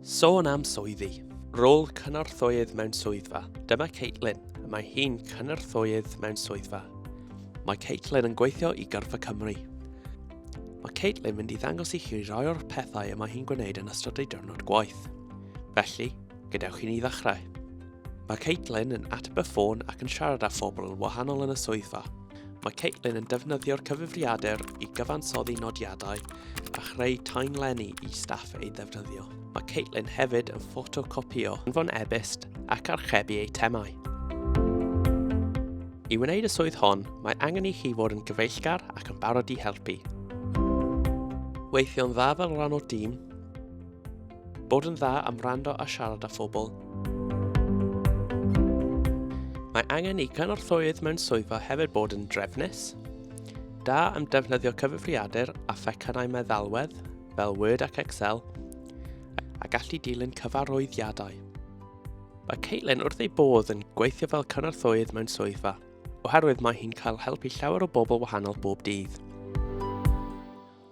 Sôn am swyddi. Rôl cynorthwyydd mewn swyddfa. Dyma Caitlin. Mae hi'n cynorthwyydd mewn swyddfa. Mae Caitlin yn gweithio i Gyrfa Cymru. Mae Caitlin mynd i ddangos i chi rai o'r pethau y mae hi'n gwneud yn ystod ei diwrnod gwaith. Felly, gadewch i ni ddechrau. Mae Caitlin yn ateb y ffôn ac yn siarad â phobl yn wahanol yn y swyddfa. Mae Caitlin yn defnyddio'r cyfrifiadur i gyfansoddi nodiadau a chreu taenlenni i staff ei ddefnyddio. Mae Caitlin hefyd yn ffotocopio, anfon e-byst ac archebu eitemau. I wneud y swydd hon, mae angen i chi fod yn gyfeillgar ac yn barod i helpu. Weithio'n dda fel rhan o'r dîm, Bod yn dda am rando a siarad â phobl. Mae angen i cynorthwyydd mewn swyddfa hefyd bod yn drefnus, da am defnyddio cyfrifiadur a phecynau meddalwedd fel Word ac Excel, a gallu dilyn cyfarwyddiadau. Mae Caitlin wrth ei bodd yn gweithio fel cynorthwyydd mewn swyddfa, oherwydd mae hi'n cael help i llawer o bobl wahanol bob dydd.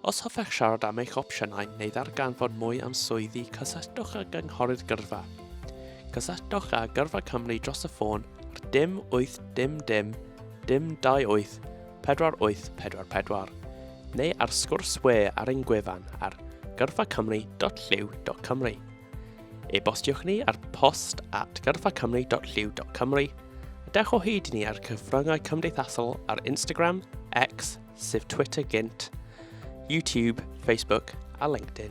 Os hoffech siarad am eich opsiynau neu ddarganfod mwy am swyddi, cysylltwch â Gynghorydd Gyrfa. Cysylltwch â Gyrfa Cymru dros y ffôn ar dim 8 dim dim dim 28 4844 neu ar sgwrs we ar ein gwefan ar gyrfacymru.llyw.cymru. E-bostiwch ni ar post at gyrfacymru.llyw.cymru a dewch o hyd i ni ar cyfryngau cymdeithasol ar Instagram, X sef Twitter gynt, YouTube, Facebook a LinkedIn.